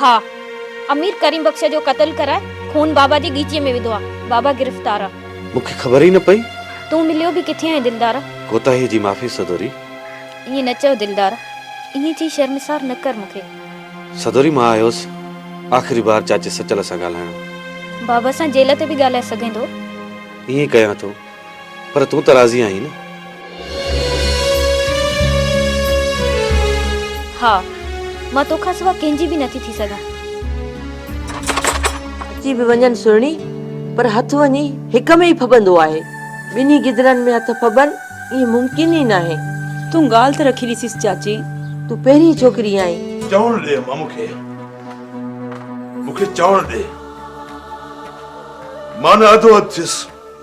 ها امير ڪريم بخش جو قتل ڪرائي خون بابا جي ڳيچيء ۾ وڌو آ بابا گرفتار آ. مون کي خبر ئي نه پئي. تون مليو به ڪٿي آهين دلدار. ڪوتاهي جي معافي سدوري. ائين نه چئو دلدار. ائين چئي شرمسار نه ڪر مون کي. سدوري مان آيوس آخري بار چاچي سچل سان ڳالهائڻ. بابا سان جيل تي به ڳالهائي سگهين ٿو. ائين ڪيان ٿو. پر تون ته راضي آهين نه؟ ها. مان تو کان سوا ڪنهن جي به نٿي ٿي سگهان. اچي به وڃن سهڻي، پر هٿ وڃي هڪ ۾ ئي ڦٻندو آهي. ٻنهي گدڙن ۾ هٿ ڦٻن، ايئن ممڪن ئي ناهي. تون ڳالهه ته رکي ڏسيس چاچي. تون پهرين ڇوڪري آهين. چوڻ ڏي امان مون کي. مون کي چوڻ ڏي. مان نه اڌو اڌ ٿيس.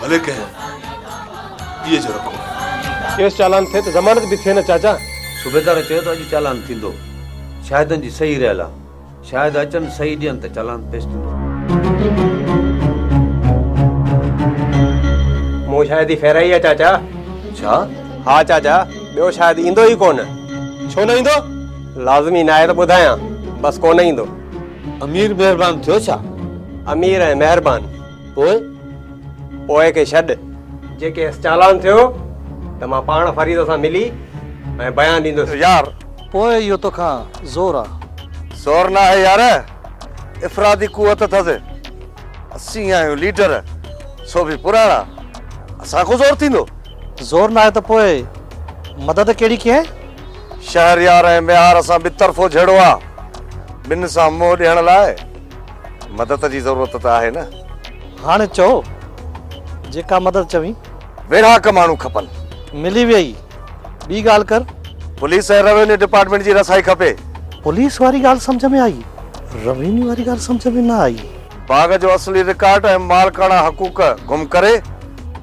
ڀلي ڪنهن ٻئي جو رکو. ڪيس چالان ٿئي ته ضمانت به ٿئي نه چاچا. صوبيدار چيو ته اڄ چالان ٿيندو. شاهدن جي صحيح رهيل آهي. شاهد اچن صحيح ڏين ته چالان پيش ٿيندو. مون شاهدي ڦيرائي آهي چاچا. ڇا؟ ها چاچا ٻيو شاهد ايندو ئي ڪونه. ڇو نه ايندو؟ لازمي ناهي ته ٻڌايان بس ڪونه ايندو. امير مهربان ٿيو ڇا؟ امير ۽ مهربان. پوء؟ پوء کي ڇڏ. جي ڪيس چالان ٿيو ته مان پاڻ فريد سان ملي ۽ بيان ڏيندس. يار! پوء اهو توکان زور آ. زور ناهي يار، افرادي قوت اٿس. اسين آهيون ليڊر، سو به پراڻا. اسان کان زور ٿيندو؟ زور ناهي ته پوء مدد ڪهڙي ڪينء؟ شهريار ۽ ميهار سان ٻطرفو جهيڙو آ. ٻن سان منهن ڏيڻ لاء. مدد جي ضرورت ته آهي نه. هاڻي چئو جيڪا مدد چوين. ويڙهاڪ ماڻهو کپن. ملي ويئي ٻي ڳالهه ڪر. پوليس ۽ روينيو ڊپارٽمينٽ جي رسائي کپي. پوليس واري ڳالهه سمجهه ۾ آئي. روينيو واري ڳالهه سمجهه ۾ نه آئي. باغ جو اصلي رڪارڊ ۽ مالڪاڻا حقوق گم ڪري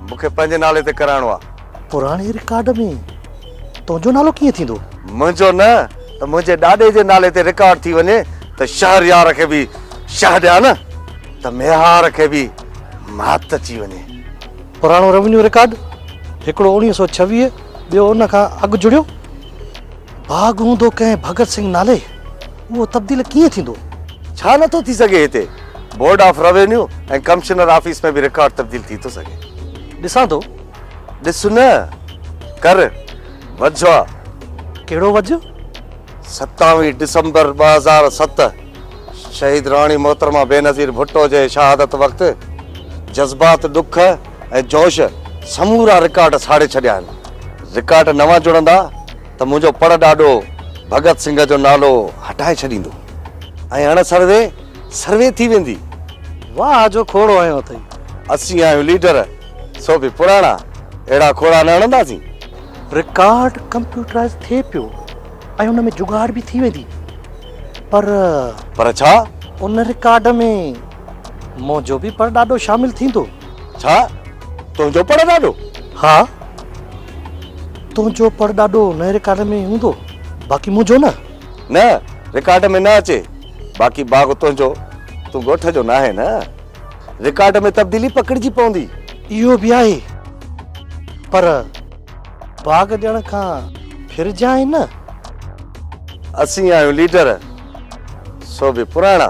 مون کي پنهنجي نالي تي ڪرائڻو آهي. پراڻي رڪارڊ ۾ تنهنجو نالو ڪيئن ٿيندو؟ منهنجو نه ته منهنجي ڏاڏي جي نالي تي رڪارڊ ٿي وڃي ته شهريار کي به شهه ڏيان نه ته ميهار کي به مات اچي وڃي. پراڻو روينيو رڪارڊ هڪڙو اوڻيهه سؤ ڇويهه ٻيو ان کان اڳ جڙيو باغ هوندو ڪنهن ڀڳت سنگهه نالي اهو تبديل ڪيئن ٿيندو؟ ڇا نه ٿو ٿي سگهي هتي board of revenue ۽ commissioner office ۾ به رڪارڊ تبديل ٿي ٿو سگهي. ڏسان ٿو ڏس نه، ڪر وجهه آ. ڪهڙو وجهه؟ ستاويهه ڊسمبر ٻه هزار ست شهيد راڻي محترمه بينظير ڀٽو جي شهادت وقت جذبات، ڏک ۽ جوش سمورا رڪارڊ ساڙي ڇڏيا آهن. رڪارڊ نوان جڙندا ته منهنجو پڙ ڏاڏو ڀڳت سنگهه جو نالو هٽائي ڇڏيندو ۽ اڻ سروي سروي ٿي ويندي. واهه جو کوڙو هنيو اٿئي. اسين آهيون ليڊر. سو به پراڻا اهڙا کوڙا نه هڻنداسين. رڪارڊ ڪمپيوٽرائز ٿئي پيو ۽ ان ۾ جگاڙ به ٿي ويندي پر. پر ڇا؟ ان رڪارڊ ۾ منهنجو به پڙڏاڏو شامل ٿيندو. ڇا؟ تنهنجو پڙڏاڏو؟ ها. تنهنجو پڙڏاڏو ان رڪارڊ ۾ هوندو باقي منهنجو نه. نه رڪارڊ ۾ نه اچي. باقي باغ تنهنجو. تون ڳوٺ جو ناهين نه. رڪارڊ ۾ تبديلي پڪڙجي پوندي. اهو به آهي پر باغ ڏيڻ کان ڦرجانء نه. اسين آهيون ليڊر سو به پراڻا.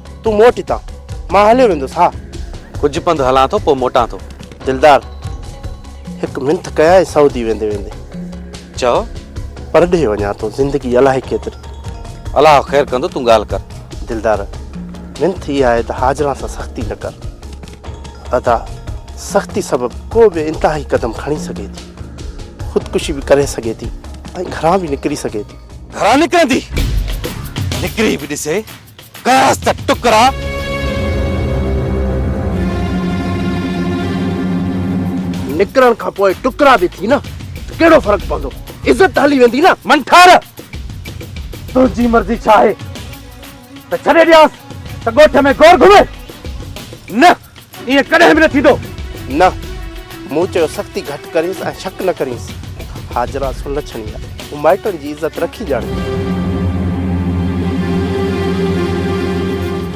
تون موٽ هتان، مان هليو ويندس. ها! ڪجهه پنڌ هلان ٿو، پوء موٽان ٿو. دلدار، هڪ منٿ ڪيائين سعودي ويندي ويندي. چئو. پرڏيهه وڃان ٿو، زندگي الائي ڪيتري. الله خير ڪندو، تون ڳالهه ڪر. دلدار، منٿ اها آهي ته حاجران سان سختي نه ڪر. ادا، سختي سبب ڪو به انتهائي قدم کڻي سگهي ٿي. خودڪشي به ڪري سگهي ٿي ۽ گهران به نڪري سگهي ٿي. گهران نڪرندي؟ نڪري به ڏسي. ڪياس ته ٽڪرا. نڪرڻ کان پوء ٽڪرا به ٿي نه ته ڪهڙو فرق پوندو. عزت ته هلي ويندي نه. منٺار! تنهنجي مرضي ڇا آهي ته ڇڏي ڏيانس ته ڳوٺ ۾ گور گهمي؟ نه! ائين ڪڏهن به نه ٿيندو. نه. مون چيو سختي گهٽ ڪرينس ۽ شڪ نه ڪرينس. حاجره سلڇڻي آهي. هو مائٽن جي عزت رکي ڄاڻي.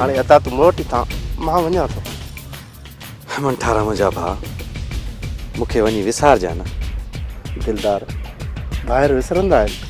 هاڻي ادا تون موٽي تان مان وڃان ٿو. هيمن ٺارا منهنجا ڀاء مون کي وڃي وسارجان نه. دلدار ڀائر وسرندا آهن.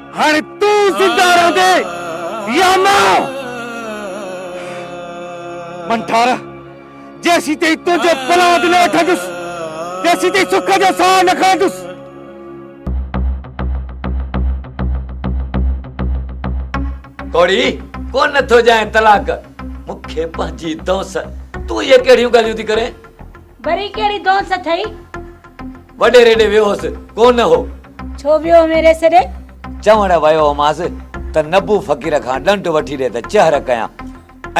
هاڻي تون زنده رهندي يا نه؟ منٺار، جيسين تائين تنهنجو پلاند نه وٺندس، تيسين تائين سک جو ساهه نه کڻندس. ڪوڙي، ڪو نه ٿو ڄائين طلاق. مون کي پنهنجي دونس، تون اهي ڪهڙيون ڳالهيون ٿي ڪرين؟ وري ڪهڙي دونس اٿئي؟ وڏيري ڏي ويو هوس، ڪو نه هو. ڇو ويو هومين ريس ڏي؟ چوڻ ويو هومانس ته نبو فقير کان ڏنڊ وٺي ڏي ته چهر ڪيان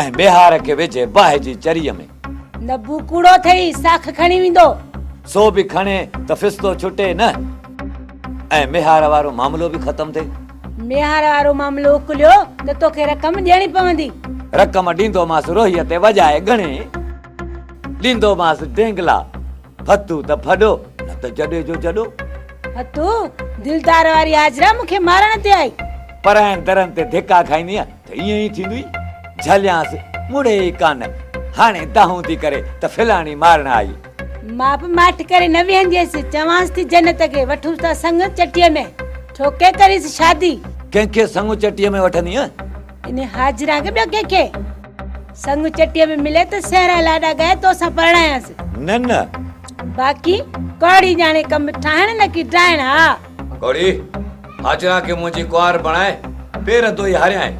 ۽ ميهار کي وجهي باهه جي چريء ۾. نبو ڪوڙو اٿئي، ساک کڻي ويندو. سو به کڻي ته ڦستو ڇٽي نه ۽ ميهار وارو معاملو به ختم ٿئي. ميهار وارو معاملو اڪليو ته توکي رقم ڏيڻي پوندي. رقم ڏيندومانس روهيء تي وڄائي ڳڻي. ڏيندومانس ڊينگلا، ڀتو ته ڀڏو، نه ته جڏي جو جڏو. ڀتو، دلدار واري حاجره مون کي مارڻ تي آئي. پرائين درن تي ڌڪا کائيندينء ته ائين ئي ٿيندوئي. جهليانس، مڙي ئي ڪانه. هاڻي دانهون ٿي ڪري ته فلاڻي مارڻ آئي. مان به ماٺ ڪري نه ويهنديس، چوانس ٿي جنت کي وٺوس ٿا سڱ چٽيء ۾، ٺوڪي ڪريس شادي. ڪنهن کي سڱ چٽيء ۾ وٺندينء؟ انهيء حاجره کي ٻيو ڪنهن کي سڱ چٽيء ۾ ملي ته سهرا لاڏا ڳائي تو سان پرڻايانس. نه نه. باقي ڪوڙي ڄاڻي ڪم ٺاهڻ نه ڪي ڊاهڻ. ها. ڪوڙي، حاجره کي منهنجي ڪنوار بڻائي پير ڌوئي هاريانء.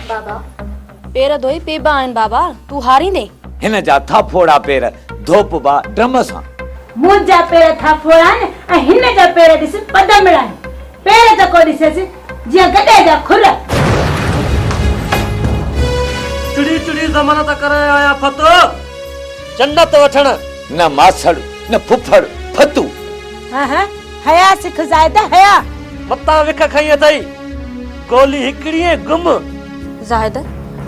بابا. پير ڌوئي پيبا آهن بابا، تون هاريندين. هن جا ٿا ڦوڙا پير، ڌوپبا ڊرم سان. منهنجا پير ٿا ڦوڙا آهن ۽ هن جا پير ڏس پدمڙا آهن. پير ته ڪو ڏسيس، جيئن گڏهه جا کل. چڙي چڙي زمن ته ڪري آيا فتو، جنت وٺڻ. نه ماسڙ نه ڦڦڙ فتو. هه هه. هيا سک زاهده هيا. متان وک کنئي اٿئي گولي هڪڙي ۽ گم. زاهده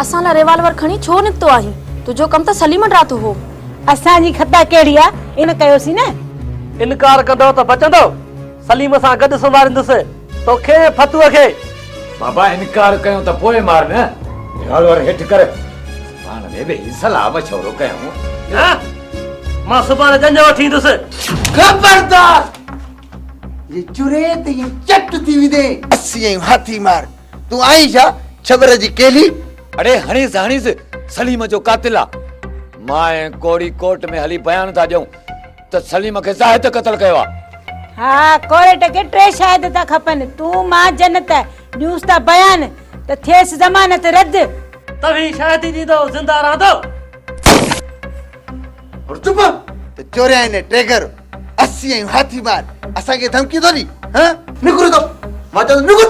اسان لاء ريوالور کڻي ڇو نڪتو آهين؟ تنهنجو ڪم ته سليم ڊراتو هو. اسان جي خطا ڪهڙي آ ان ڪيوسين نه. انڪار ڪندو ته بچندو سليم سان گڏ سمهاريندس توکي ۽ ڦتوء کي. بابا انڪار ڪيون ته پوء مار نه. ريوالور هيٺ ڪر. پاڻ ۾ ويهي صلاح مشورو ڪيائون. نه! مان سڀاڻي ڄڃ وٺي ايندس. خبردار! جي چرين ته ائين چٽ ٿي ويندين. اسي آهيون هاٿي مار، تون آهين ڇا ڇٻر جي ڪيلي. اڙي هڻيس هڻيس، سليم جو قاتل آ. مان ۽ ڪوڙي ڪورٽ ۾ هلي بيان ٿا ڏيون. ته سليم کي زاهد قتل ڪيو آ. ها ڪورٽ کي ٽي شاهد ٿا کپن تون مان جنت ڏيونس ٿا بيان ته ٿيس ضمانت رد. توهين شاهدي ڏيندو زنده رهندو. هر چپ ته چوريائين ۽ ٽيگر اسي آهيون هاٿي مار اسان کي ڌمڪيون ٿو ڏي ها. نڪر اتان مان چيو ٿو نڪر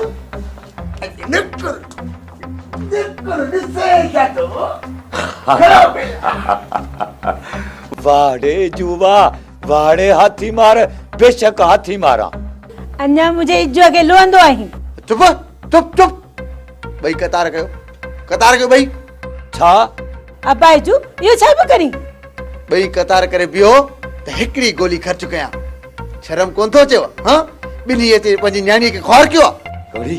نڪر. واڙي جو وا واڙي هاٿي مار بيشڪ هاٿي ماران اڃا مجھي اجو کي لوندو آهين چپ چپ چپ ٻئي قطار ڪيو قطار ڪيو ٻئي ڇا ابا اجو اهو ڇا پيو ڪرين ٻئي قطار ڪري بيهو ته هڪڙي گولي خرچ ڪيان شرم ڪون ٿو اچيو ها ٻنهي اچي پنهنجي نياڻي کي خوار ڪيو آ گوري